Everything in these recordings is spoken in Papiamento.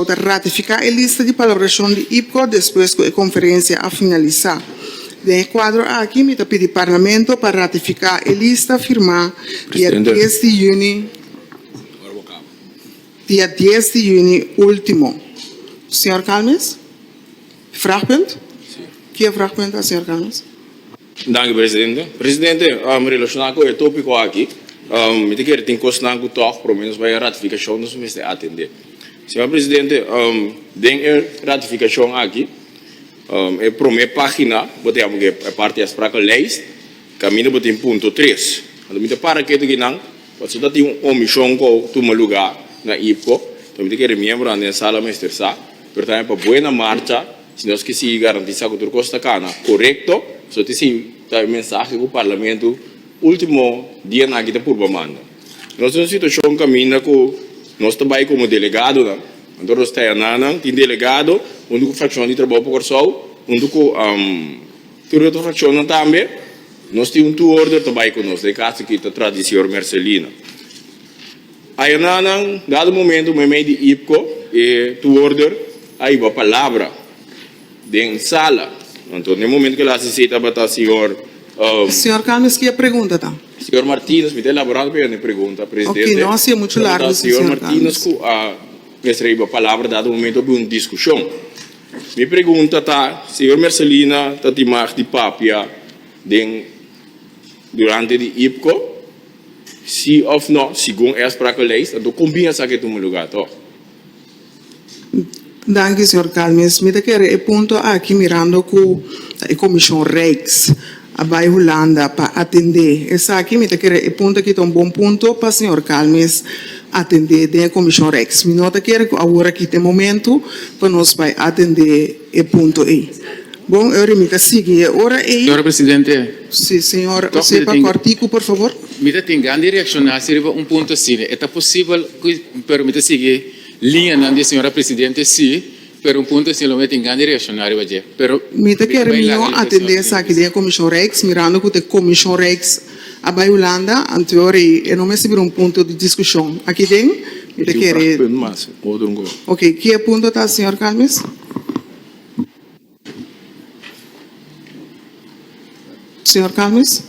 Bo ta ratifiká e lista di palabrashon di IPCO despues ku e konferensia a finalisá. Den e kuadro aki mi ta pidi Parlamento pa ratifiká e lista firmá dia dies di yüni dia dies di yüni último. Señor Calmes? Vragpunt? Ki e vragpunt ta, señor Calmes? Danki presidente. Presidente, relacioná cu e topico aki, mi ta kere tin cosnan cu tog por lo menos bay e ratificacion nos mester atende. Señor presidente, den e ratificacion aki, e prome pagina bo ta yama cu e parti a sprakenlijst, caminda bo tin punto tres. Anto mi ta para ketu aki nan, pasobra ta tin un omision cu a tuma lugar na IPCO, cu mi ta kere miembronan den sala mester sa, pero tambe pa buena marcha, Si nos ke sigui garantisá ku tur kos ta kana korekto, so ta esin ta e mensahe ku Parlamento último dianan aki ta purba manda. Nos ta na un situashon kaminda ku nos ta bai komo delegadonan, anto nos teanan nan tin delegado huntu ku frakshon di Trabou pa Kòrsou, huntu ku tur e otro frakshonnan tambe, nos tin un tuorder ta bai ku nos, den e kaso aki ta Tradisior Merselina. Airna nan dado momento meimei di Ipco e toehoorder a hiba palabra den sala. Anto n'e momento ke el hasi esei tabata señor. Señor Campins ki e pregunta ta? Señor Martinez, mi ta elaborando pa yanda e pregunta, presidente. Oke, no hasi e muchu largo tabata señor Martinez ku a mester a hiba palabra dado momento habi un diskushon. Mi pregunta ta señor Mercelina ta timag di papia den durante di Ipco? Si of no, segun e a sprake leis, anto kon bin a sa ke tuma lugá to? Danki, señor Calmes. Mi ta kere e punto aki mirando ku ta e Komishon Rijks a bai Hulanda pa atendé esaki. Mi ta kere e punto aki ta un bon punto pa señor Calmes atendé den e Komishon Rijks. Mi no ta kere ku awor aki ta e momentu pa nos bai atendé. e punto ey. Bon, e ora mi ta sigui e ora ey. Señor presidente. Si, señor. Tok mi ta tin. Sepa corticu, por favor. Mi ta tin gan di reacciona si riba un punto asina. E ta posibel cu, pero mi ta sigui liñanan di e señora presidente si, pero un punto asina lo mi a tin gan di reacciona riba dje, pero. Mi ta kere mi no atende esaki den e Comision Reis, mirando cu ta e Comision Reis. A bai Hulanda anterior y e no mester bira un punto di discusion aki den. Mi ta kere. Ok, ki e punto ta señor Calmes? Señor Calmes?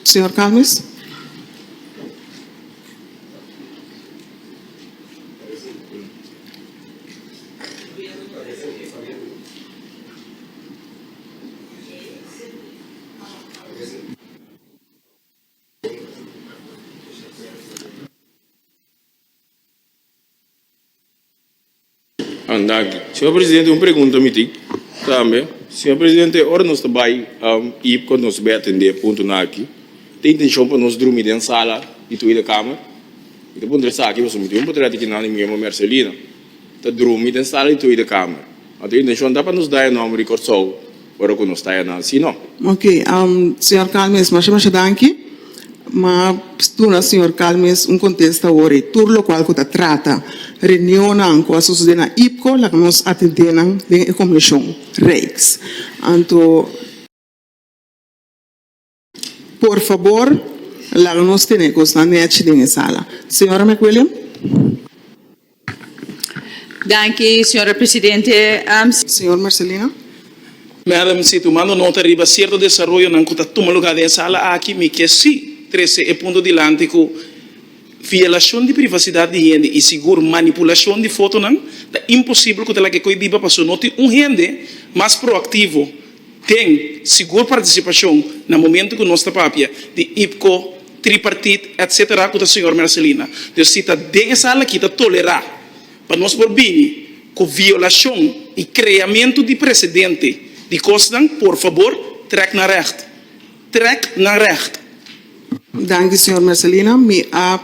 Señor Calmes? Señor presidente un pregunta mi tin tambe señor presidente ora nos ta bay y con nos bay atende puntonan aki ta intencion pa nos drumi den sala di tweede kamer y ta puntra esaki pasobra mi tin un patriotica nan y mi yoma Mercelina. ta drumi den sala di Tweede Kamer. Nos intensyon ta pa nos da e nomber di Kòrsou ora ku nos ta e nan. Si no. Ok, señor Calmes, masha masha danki. M'a duna señor Calmes un kontesta awor ei. Tur lokual ku ta trata reunionnan ku a sosodé na IPCO laga nos atendé nan den e komishon, reeks. Anto. Por fabor, laga nos tene cosnan nechi den e sala. Señora McWilliam. Danki, señora presidente. Señor Marcelino. Madam, si tumando nota riba cierto desaroyonan cu ta tuma lugar den e sala aki, mi kier si trece e punto dilanti cu violacion di privacidad di hende y sigur manipulacion di fotonan ta imposible cu ta laga e coi biba paso no tin un hende mas proactivo Ten sigur participacion na momento cu nos ta papia di IPCO, Tripartit etc. Cu ta Señor Mercelina. Dus si ta den e sala aki ta tolera pa nos por bini cu violacion y creamento di precedente di cosnan, por fabor trek na recht. trek na recht. Danki señor Mercelina, mi a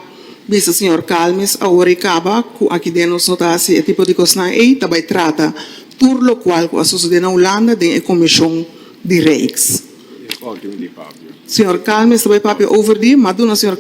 bisa señor Calmes awor e caba cu aki den nos no ta haci e tipo di cosnan ey, ta bay trata tur locual cu a sucede na Hulanda den e comision di Rijks. Señor Calmes ta bay papia over di, ma a duna señor.